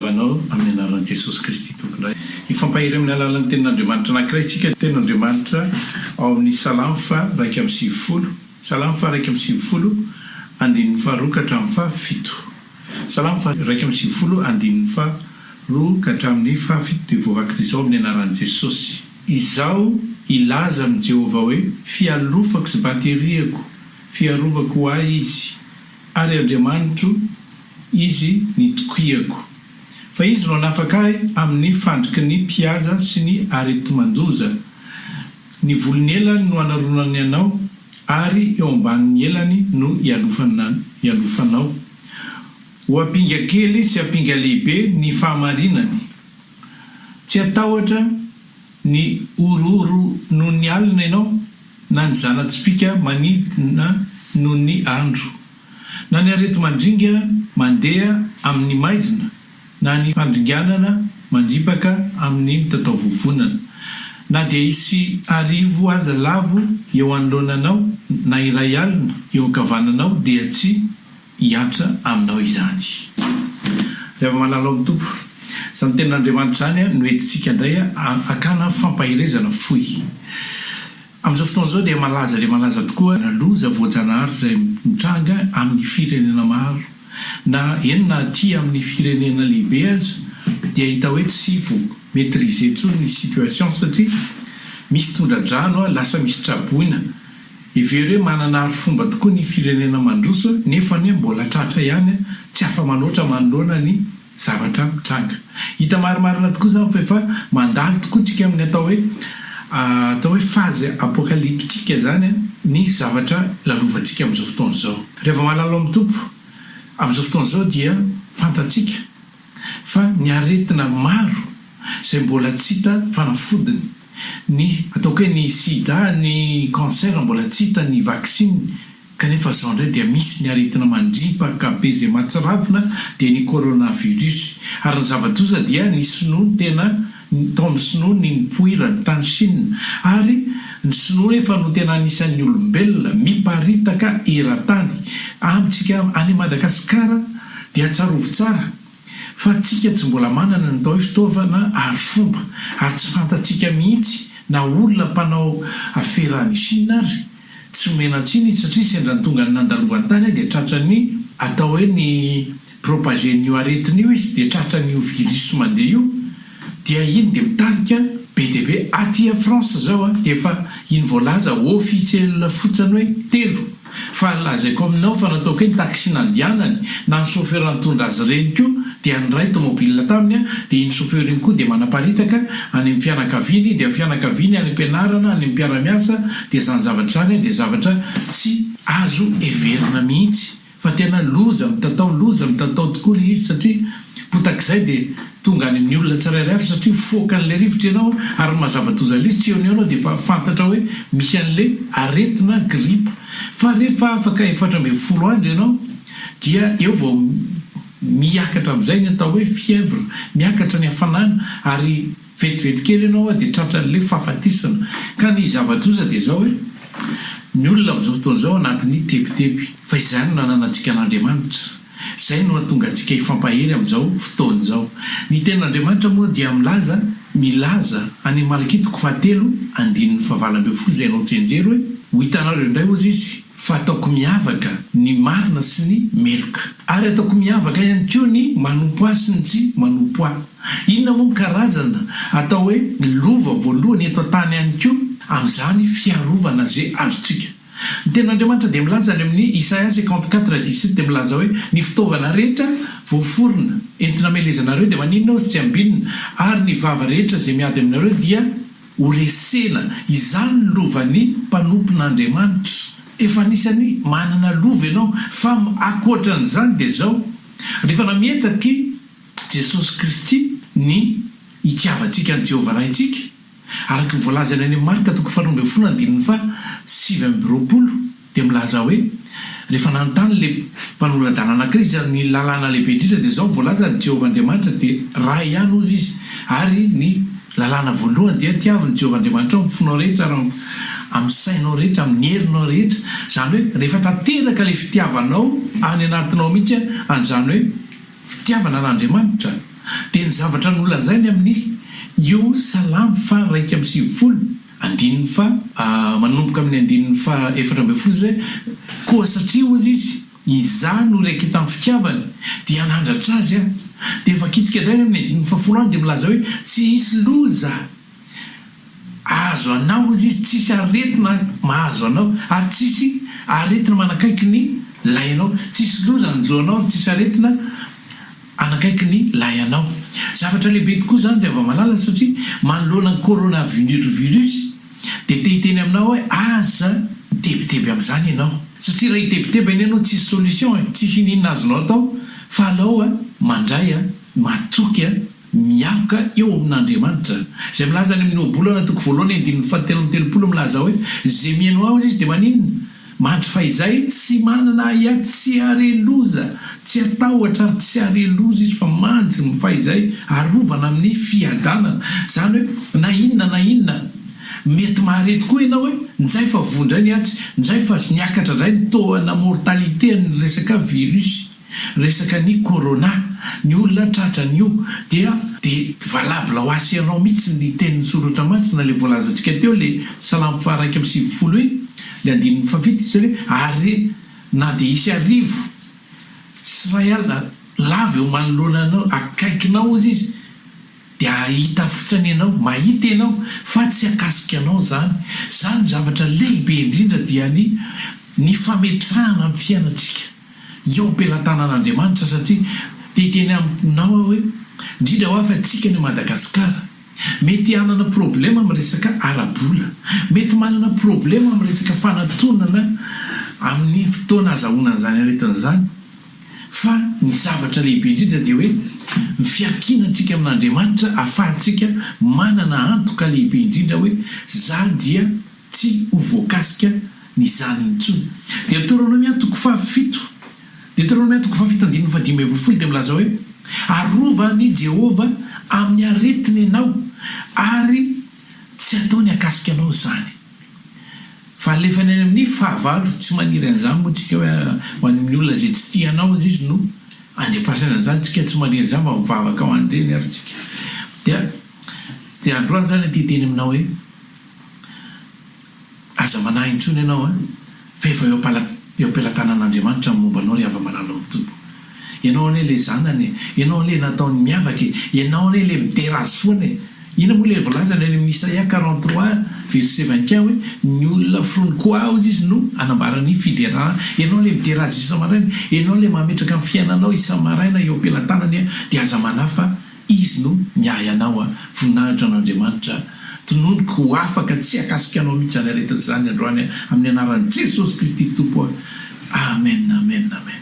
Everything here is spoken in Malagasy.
Mpanao amin'ny anaran'i Jesosy Kristy Tomponay. Hifampahery amin'ny alalan'ny tenin'Andriamanitra anankiray isika, tenin'Andriamanitra ao amin'ny Salamo faha iraika amby sivifolo, Salamo faha iraika amby sivifolo, andininy faha roa ka hatramin'ny faha fito. Salamo faha iraika amby sivifolo, andininy faha roa ka hatramin'ny faha fito dia voavaky izao amin'ny anaran'i Jesosy. Izaho hilaza amin'i Jehovah hoe, Fialofako sy bateriako, fiarovako ho ahy izy. Ary Andriamanitro Izy nitokiako. Fa Izy no hanafaka ahy amin'ny fandriky ny mpihaza sy ny areti-mandoza. Ny volon'ny elany no hanaronany anao, ary eo ambanin'ny elany no hialofanao. Ho ampinga kely sy ampinga lehibe ny fahamarinany. Tsy hatahotra ny horohoro noho ny alina ianao. na ny zana-tsipìka manidina noho ny andro, na ny areti-mandringa mandeha amin' ny maizina, na ny fandringanana mandripaka amin' ny mitataovovonana, na dia hisy arivo aza lavo eo anoloananao, na iray alina eo ankavananao, dia tsy. hiantra aminao izany. Ry havana malala ao amin'ny Tompo, izany Tenin'Andriamanitra izany no entintsika indray hakana fampaherezana fohy. Amin'izao fotoana izao dia malaza dia malaza tokoa ny loza voajanahary izay mitranga amin'ny firenena maro, na eny na aty amin'ny firenena lehibe aza dia hita hoe tsy vo maitriser intsony ny situation satria misy tondra-drano, lasa misy traboina. Heverina hoe manana arifomba tokoa ny firenena mandroso nefa anie mbola tratra ihany tsy afa-manoatra manoloana ny zavatra mitranga. Hita marimarina tokoa izany fa efa mandalo tokoa tsika amin'ny atao hoe atao hoe phase apocalyptique izany ny zavatra lalovantsika amin'izao fotoana izao. Reva Malalo amin'ny Tompo, amin'izao fotoana izao dia fantatsika fa ny aretina maro izay mbola tsy hita fanafodiny, Ny ataoko hoe ny sida, ny cancer mbola tsy hita ny vaksiny kanefa zao indray dia misy ny aretina mandripaka be izay mahatsiravina dia ny coronavirus. Ary ny zava-doza dia ny sinoa no tena tao amin'ny sinoa ny nipoirany tany chine ary ny sinoa nefa no tena anisan'ny olombelona miparitaka eran-tany. Amintsika any Madagasikara dia tsarovy tsara. Fa tsika tsy mbola manana ny atao hoe fitaovana ary fomba ary tsy fantatsika mihitsy na olona mpanao afera any Chine ary tsy omena tsiny izy satria sendra ny tongany nandalovany tany dia tratran'ny atao hoe ny propager an'io aretina io izy dia tratran'io virus mandeha io dia iny dia mitarika be dia be aty a France zao dia efa iny voalaza officiel fotsiny hoe telo Fa lazaiko aminao fa nataoko hoe ny taxi nandianany na ny chauffeur nitondra azy ireny koa dia niray tomobile taminy aho dia iny chauffeur iny koa dia manaparitaka any amin'ny fianakaviany dia ny fianakaviany any am-pianarana any am-piara-miasa dia izany zavatra izany dia zavatra tsy azo heverina mihitsy fa tena loza mitatao loza mitatao tokoa ilay izy satria Potak'izay dia tonga any amin'ny olona tsirairay avy satria mifoaka an'ilay rivotra ianao ary ny mahazava-doza an'ilay izy tsy eo anio ianao dia efa fantatra hoe misy an'ilay aretina, grippe, fa rehefa afaka efatra ambin'ny folo andro ianao dia eo vao miakatra amin'izay ny atao hoe fièvre, miakatra ny hafanana ary. Vetivety kely ianao a dia tratran'ilay fahafatesana. Ka ny zava-doza dia izao hoe, ny olona amin'izao fotoana izao anatin'ny tebiteby. Fa izay no nananantsika an'Andriamanitra. Izay no hahatonga antsika hifampahery amin'izao fotoana izao. Ny Tenin'Andriamanitra moa dia milaza, milaza, any amin'ny Malakia toko fahatelo, andininy fahavalo ambin'ny folo izay ianao tsy hianjera hoe, Ho hitanareo indray hozy izy, fa ataoko miavaka ny marina sy ny meloka. Ary ataoko miavaka ihany koa ny manompo ahy sy ny tsy manompo ahy. Inona moa ny karazana atao hoe lova voalohany eto an-tany ihany koa amin'izany fiarovana ze azontsika. Ny Tenin'Andriamanitra dia milaza any amin'ny Isaia cinquante quatre dix sept dia milaza hoe ny fitaovana rehetra voaforona entina amelezanareo dia maninona ozy tsy ambinina ary ny vava rehetra ze miady aminareo dia horesena. Izany lovan'ny mpanompon'Andriamanitra. Efa anisany manana lova ianao fa akoatran'izany dia zao, rehefa nametraky Jesosy Kristy ny hitiavantsika an'i Jehovah Raintsika, araka ny voalazany any amin'ny Marka toko faharoa ambin'ny folo andininy faha sivy amby roapolo, dia milaza hoe, Rehefa nanontany ilay mpanora-dalàna anankiray izany ny lalàna lehibe indrindra, dia izao no voalazany, Jehovah Andriamanitra dia Ray ihany, hozy izy, ary ny lalàna voalohany dia, Tiavo ny Jehovah Andriamanitrao amin'ny fonao rehetra ary amin'ny sainao rehetra, amin'ny herinao rehetra, izany hoe rehefa tanteraka ilay fitiavanao any anatinao mihitsy, izany hoe, Fitiavana an'Andriamanitra dia ny zavatra nolazainy amin'ny Iov salamo faha iraika amby sivifolo, andininy faha, manomboka amin'ny andininy faha efatra ambin'ny folo izay, Koa satria hoy izy, Izaho no iraiketan'ny fitiavany, dia hanandratra azy aho. Dia vakitsika indray any amin'ny andininy fahafolo any dia milaza hoe, Tsy hisy loza. Ahazo anao hozy izy, tsisy aretina mahazo anao, ary tsisy aretina manakaiky ny lahinao, tsisy loza hanjo anao ary tsisy aretina hanakaiky ny lahinao. Zavatra lehibe tokoa izany ry hava-malala satria manoloana ny coronavirus dia te hiteny aminao aho hoe aza mitebiteby amin'izany ianao. Satria raha hitebiteby anie ianao tsisy solution e, tsisy iniana azonao atao fa alao mandray, matoky. mialoka eo amin'Andriamanitra, izay milaza any amin'ny Ohabolana toko voalohany andininy fahatelo amby telopolo milaza hoe, Izay mihaino Aho, hoy Izy, dia maninona? Mandry fahizay, tsy manana ahiahy, tsy hare loza, tsy hatahotra ary tsy hare loza izy, fa mandry fahizay, arovana amin'ny fiadanana. Izany hoe, na inona na inona mety mahare tokoa ianao hoe, njay fa voa indray ny atsy, njay fa niakatra indray ny taux, na mortalité, an'ny resaka virus. Resaka ny corona, ny olona tratra an'io dia dia valable ho asy ianao mihitsy ny tenin'ny soratra masina le voalazantsika teo le salamo faha iraika amby sivifolo iny le andininy faha fito izay hoe ary na dia hisy arivo sy iray alina lava eo manoloana anao akaikinao aza izy dia hahita fotsiny ianao mahita ianao fa tsy hakasika anao izany izany zavatra lehibe indrindra dia ny ny fametrahana ny fiainantsika Eo am-pelatanan'Andriamanitra satria te hiteny aminao aho hoe indrindra ho avy antsika any Madagasikara mety hanana problema amin'ny resaka ara-bola, mety manana problema amin'ny resaka fanatonana amin'ny fotoana azahoana an'izany aretina izany fa ny zavatra lehibe indrindra dia hoe ny fiankinantsika amin'Andriamanitra ahafahantsika manana antoka lehibe indrindra hoe za dia tsy ho voakasika ny zany intsony. Deoteronomia toko fahafito Deoteronomia toko fahafito andininy fahadimy ambin'ny folo dia milaza hoe, Arovan' i Jehovah amin'ny aretiny ianao, ary tsy hataony hakasika anao izany. Fa alefa ny any amin'ny fahavalo, tsy maniry an'izany moa tsika hoe ho any amin'ny olona izay tsy tia anao aza izy no andefasany an'izany, tsika tsy maniry an'izany fa mivavaka ho an'ireny ary tsika. Dia, dia androany izany aho te hiteny aminao hoe. Aza manahy intsony ianao a! Fa efa eo eo am-pelatanan'Andriamanitra ny momba anao ry hava-malala ao am-pitobo. Ianao anie ilay zanany e! Ianao ilay nataony miavaka e! Ianao anie ilay midera azy foana e! Inona moa ilay voalazany any amin'ny Isaia quarante trois verset vingt et un hoe, Ny olona foronin'i Koaha hozy izy no hanambara ny fiderana. Ianao ilay midera azy isa-maraina. Ianao ilay mametraka ny fiainanao isa-maraina eo am-pelatanany dia aza manahy fa Izy no miahy anao a! Voninahitra an' Andriamanitra! Tononiko ho afaka tsy hakasika anao mihitsy izany aretina izany androany a! Amin'ny anaran'i Jesosy Kristy Tompo a! Amen! Amen! Amen!